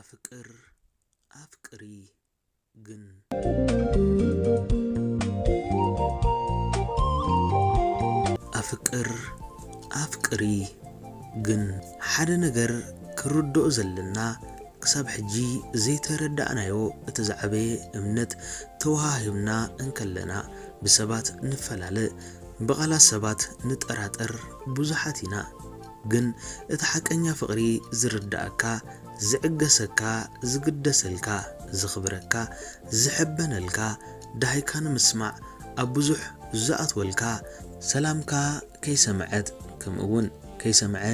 ኣፍቅር ኣፍቅሪ ግን ኣፍቅር ኣፍቅሪ ግን ሓደ ነገር ክንርድኦ ዘለና ክሳብ ሕጂ ዘይተረዳእናዮ እቲ ዝዓበየ እምነት ተወሃሂብና እንከለና ብሰባት ንፈላለ ብቓላት ሰባት ንጠራጠር ብዙሓት ኢና ግን እቲ ሓቀኛ ፍቅሪ ዝርዳኣካ ዝዕገሰካ ዝግደሰልካ ዘኽብረካ ዝሕበነልካ ዳሃይካ ንምስማዕ ኣብ ብዙሕ ዝኣትወልካ ሰላምካ ከይሰመዐት ከምኡ ውን ከይሰመዐ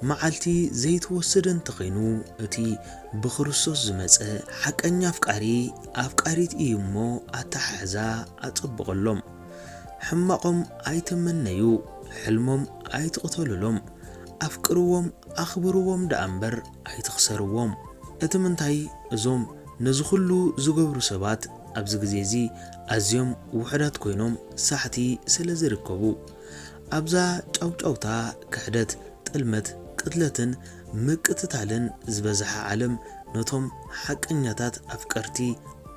መዓልቲ ዘይትወስድ እንተኸይኑ እቲ ብክርስቶስ ዝመጸ ሓቀኛ ኣፍቃሪ ኣፍቃሪት ኢዩ እሞ ኣተሓሕዛ ኣጸብቀሎም። ሕማቆም ኣይትመነዩ ሕልሞም ኣይትቅተሉሎም ኣፍቅርዎም ኣኽብርዎም ደኣ እምበር ኣይትኽሰርዎም እቲ ምንታይ እዞም ነዚ ኩሉ ዝገብሩ ሰባት ኣብዚ ግዜ እዚ ኣዝዮም ውሑዳት ኮይኖም ሳሕቲ ስለ ዝርከቡ ኣብዛ ጫውጫውታ ክሕደት ጥልመት ቅትለትን ምቅትታልን ዝበዝሓ ዓለም ነቶም ሓቀኛታት ኣፍቀርቲ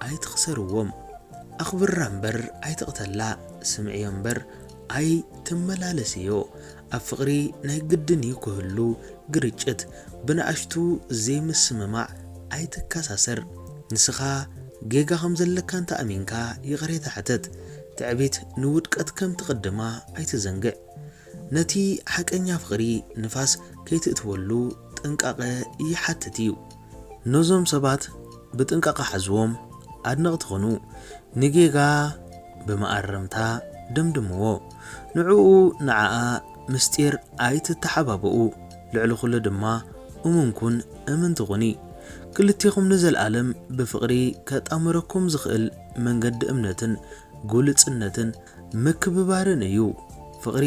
ኣይትኽሰርዎም ኣኽብራ እምበር ኣይትቕተላ ስምዕዮ እምበር ኣይትመላለስዮ ኣብ ፍቕሪ ናይ ግድን እዩ ክህሉ ግርጭት ብንኣሽቱ ዘይምስምማዕ ኣይትከሳሰር ንስኻ ጌጋ ከም ዘለካ እንተ ኣሚንካ ይቕሬታ ሕተት ትዕቢት ንውድቀት ከም ትቕድማ ኣይትዘንግዕ ነቲ ሓቀኛ ፍቕሪ ንፋስ ከይትእትወሉ ጥንቃቐ ይሓትት እዩ። ነዞም ሰባት ብጥንቃቐ ሓዝዎም፣ ኣድነቕቲ ኩኑ፣ ንጌጋ ብመኣረምታ ደምድምዎ። ንዕኡ ንዓኣ ምስጢር ኣይትተሓባበኡ፣ ልዕሊ ኩሉ ድማ እሙን ኩን እምንቲ ኩኒ። ክልቴኹም ንዘልኣለም ብፍቕሪ ከጣምረኩም ዝኽእል መንገዲ እምነትን ግሉጽነትን ምክብባርን እዩ። ፍቕሪ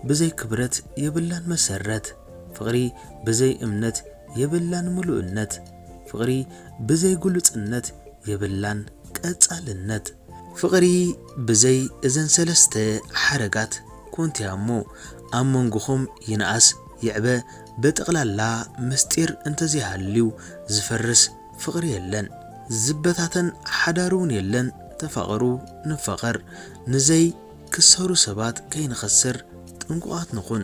ብዘይ ክብረት የብላን መሰረት። ፍቕሪ ብዘይ እምነት የብላን ምሉእነት ፍቕሪ ብዘይ ግሉጽነት የብላን ቀጻልነት። ፍቕሪ ብዘይ እዘን ሰለስተ ሓረጋት ኮንቲያ እሞ ኣብ መንጎኹም ይንኣስ ይዕበ ብጠቕላላ ምስጢር እንተዘይሃልዩ ዝፈርስ ፍቕሪ የለን ዝበታተን ሓዳርውን የለን ተፋቐሩ ንፋቐር ንዘይ ክሰሩ ሰባት ከይንኸስር ጥንቁቓት ንኹን።